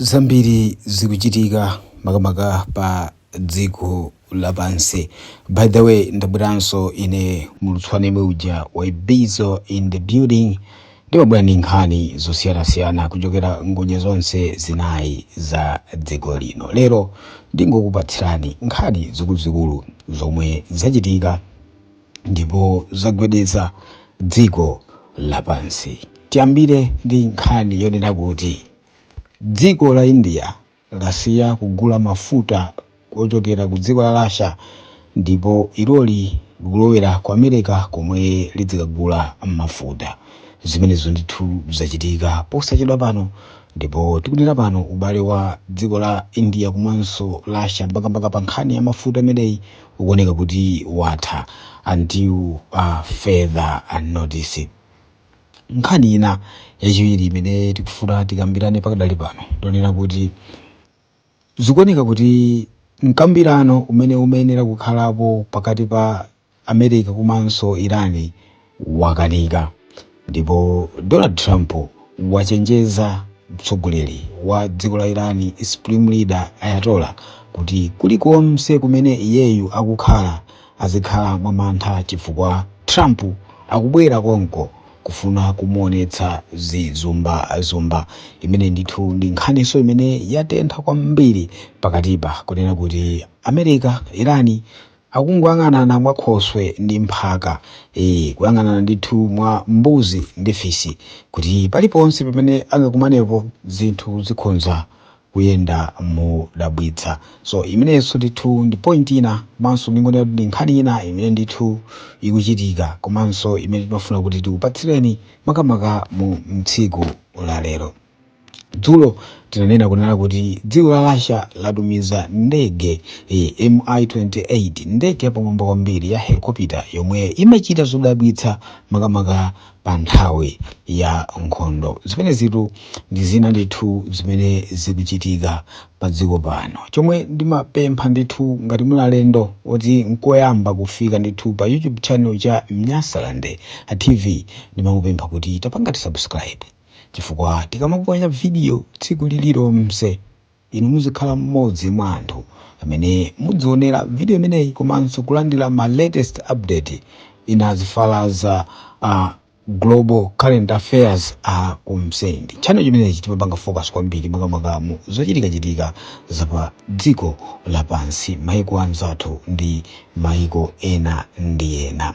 zambiri zikuchitika makamaka pa dziko lapansi by the way ndabweranso ine mulutswane yemwe uja wa bizo in the building ndimabwera ndi nkhani zosiyanasiyana kuchokera ngodya zonse zinayi za dziko lino lero ndingokupatsirani nkhani zikuluzikulu zomwe zachitika ndipo zagwedeza dziko lapansi. Tiyambire ndi nkhani yonena kuti dziko la India lasiya kugula mafuta ochokera ku dziko la Russia ndipo iloli likulowera ku America komwe lidzikagula mafuta. Zimenezo ndithu zachitika posachedwa pano ndipo tikunena pano ubale wa dziko la India komanso Russia makamaka pa nkhani ya mafuta imeneyi ukuoneka kuti watha until further notice. Nkhani ina yachiwiri imene tikufuna tikambirane pakadali pano ndonena kuti zikuoneka kuti mkambirano umene umayenera kukhalapo pakati pa America komanso Iran wakanika ndipo Donald Trump wachenjeza mtsogoleri wa dziko la Iran Supreme Leader Ayatollah kuti kulikonse kumene iyeyu akukhala azikhala mwamantha chifukwa Trump akubwera konko kufuna kumuonetsa zizumbazumba. Imene ndithu ndi nkhaninso imene yatentha kwambiri pakatipa kunena kuti America, Iran Akungoyang'anana mwa khoswe ndi mphaka, ee, kuyang'anana ndithu mwa mbuzi ndi fisi, kuti paliponse pamene angakumanepo zinthu zikhonza kuyenda modabwitsa. So, imeneyonso ndithu ndi point ina, komanso ndingonena kuti ndi nkhani ina imene ndithu ikuchitika, komanso imene timafuna kuti tikupatsireni makamaka mu tsiku la lero. Dzulo tinanena kunena kuti dziko la Russia latumiza ndege eh, MI-28 ndege yapamwamba kwambiri ya helikopita yomwe imachita zodabwitsa makamaka pa nthawi ya nkhondo. Zimenezitu ndi zina ndithu zimene zikuchitika pa dziko pano. Chomwe ndimapempha ndithu ngati muli alendo oti nkoyamba kufika ndithu pa YouTube channel cha Nyasaland TV ndimangopempha kuti tapangani subscribe. chifukwa tikamaponya vidiyo tsiku lililonse, inu muzikhala mmodzi mwa anthu amene mudzionera vidiyo imeneyi komanso kulandira ma latest update in as far as global current affairs are concerned. Channel chimenechi timapanga focus kwambiri makamaka mu zochitikachitika za pa dziko lapansi, maiko anzathu ndi maiko ena ndi ena.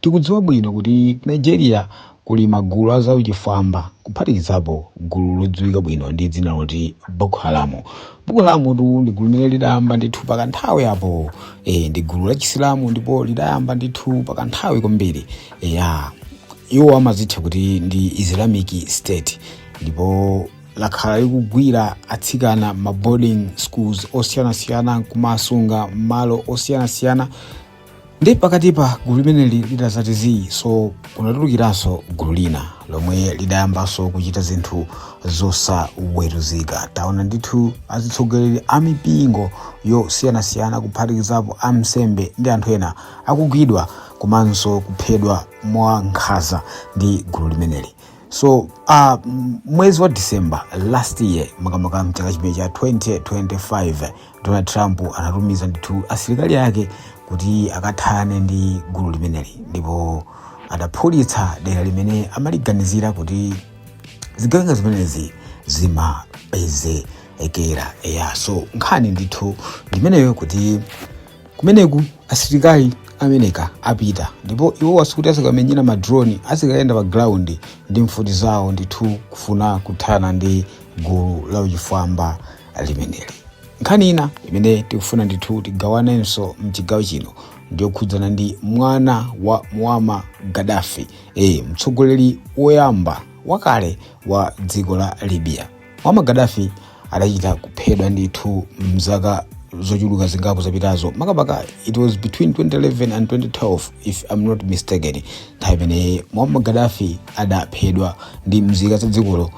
Tikudziwa bwino kuti ku Nigeria kuli magulu a zauchifwamba, kuphatikizapo gulu lodziwika bwino ndi dzina loti Boko Haram. Boko Haram'tu ndi gulu limene lidayamba ndithu pakanthawi apo. E, ndi gulu lachisilamu ndipo lidayamba ndithu pakanthawi kwambiri. Eya, iwo amazitcha kuti ndi Islamic State ndipo lakhala likugwira atsikana m'ma boarding schools osiyanasiyana nkumasunga m'malo osiyanasiyana ndi pakati pa gulu limeneli lidadzati zii so kunatulukiranso gulu lina lomwe lidayambanso kuchita zinthu zosaweruzika taona ndithu azitsogoleri a mipingo yosiyanasiyana kuphatikizapo ansembe ndi anthu ena akugwidwa komanso kuphedwa mwa nkhanza ndi gulu limeneli so uh, mwezi wa december last year makamaka mchaka chimenechi cha 2025 donald trump adatumiza ndithu asilikali ake kuti akathane ndi gulu limeneli ndipo adaphulitsa dera limene amaliganizira kuti zigawenga zimenezi zimapezekera eya so nkhani ndithu ndimeneyo kuti kumeneku asilikali amenewa apita ndipo iwowa sikuti azikamenyera madroni azikayenda pa ground ndi mfuti zawo ndithu kufuna kuthana ndi gulu la uchifwamba limeneli nkhani ina imene tikufuna ndithu tigawanenso mchigawo chino ndiyokhudzana ndi mwana wa muammar gaddafi e, mtsogoleri woyamba wakale wa dziko la libya muammar gaddafi adachita kuphedwa ndithu mzaka zochuluka zingapo zapitazo makamaka it was between 2011 and 2012 if i'm not mistaken nthawi imene muammar gaddafi adaphedwa ndi mzika za dzikolo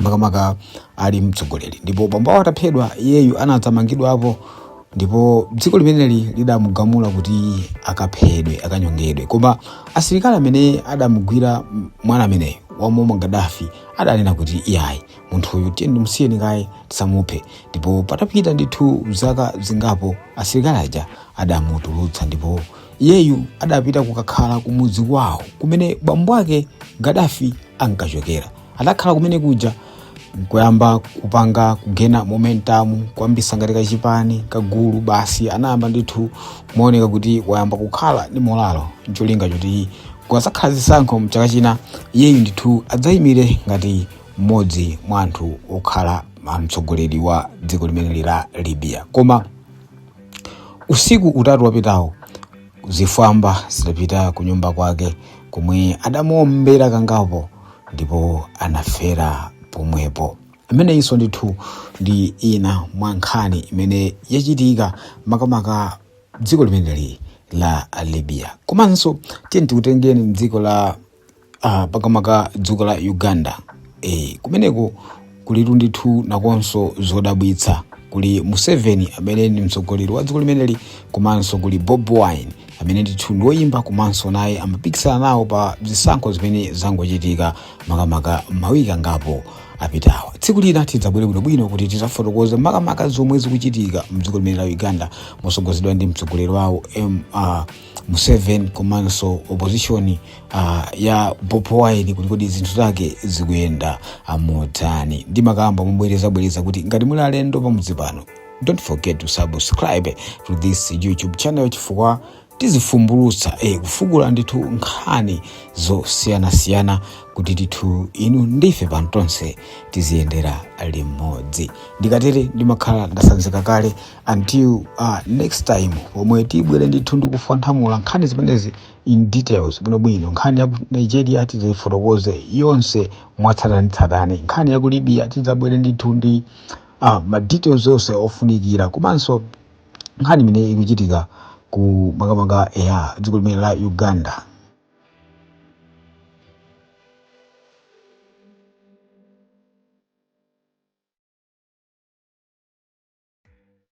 makamaka ali mtsogoleri ndipo bambawo ataphedwa iyeyu anadzamangidwapo ndipo dziko limeneli lidamugamula kuti akaphedwe akanyongedwe koma asilikali amene adamugwira m- mwana ameneyu wa Muammar Gaddafi adanena kuti iyayi munthuyu tiyeni timusiyeni kaye tisamuphe ndipo patapita ndithu zaka zingapo asilikali aja adamutulutsa ndipo iyeyu adapita kukakhala kumudzi kwawo kumene bambo ake Gaddafi ankachokera adakhala kumene kuja nkuyamba kupanga kugena momentum kuyambitsa ngati kachipani kagulu basi anayamba ndithu kumaoneka kuti wayamba kukhala ndi molalo ncholinga choti kukadzakhala zisankho mchaka china iyeyu ndithu adzayimire ngati mmodzi mwa anthu okhala mtsogoleri wa dziko limeneli la libya koma usiku utatu wapitawo zifwamba zidapita ku nyumba kwake komwe adamuombera kangapo ndipo anafera pomwepo ameneyinso ndithu ndi ina mwa nkhani imene yachitika makamaka dziko limeneli la libya komanso tiyeni tikutengeni mdziko la Ah, makamaka dziko la uganda eh, kumeneko kulitu ndithu nakonso zodabwitsa kuli museveni amene ndi mtsogoleri wa dziko limeneli komanso kuli bobi wine amene ndithu ndi woyimba komanso naye amapikisana nawo pa zisankho zimene zangochitika makamaka mawiki angapo apitawa tsiku lina tidzabwere bwinobwino kuti tidzafotokoze makamaka zomwe zikuchitika mdziko limene la uganda motsogozedwa ndi mtsogoleri wawo M- ah, Museveni komanso opposition uh, ya Bobi Wine kuti kodi zinthu zake zikuyenda motani. Ndimakamba mobwerezabwereza kuti ngati muli alendo pamudzi pano don't forget to subscribe to this YouTube channel chifukwa tizifumbulutsa eh, kufukula ndithu nkhani zosiyanasiyana kuti ndithu inu ndife pano tonse tiziyendera limodzi ndikatere ndimakhala ndasanzika kale until uh, next time pomwe tibwere ndithu ndikufwanthamula nkhani zimenezi in details bwinobwino nkhani ya ku nigeria tidzaifotokoze yonse mwatsatanetsatane nkhani ya ku libya tidzabwere ndithu ndi uh, ma details onse ofunikira komanso nkhani imene ikuchitika ku makamaka ya dziko limene la uganda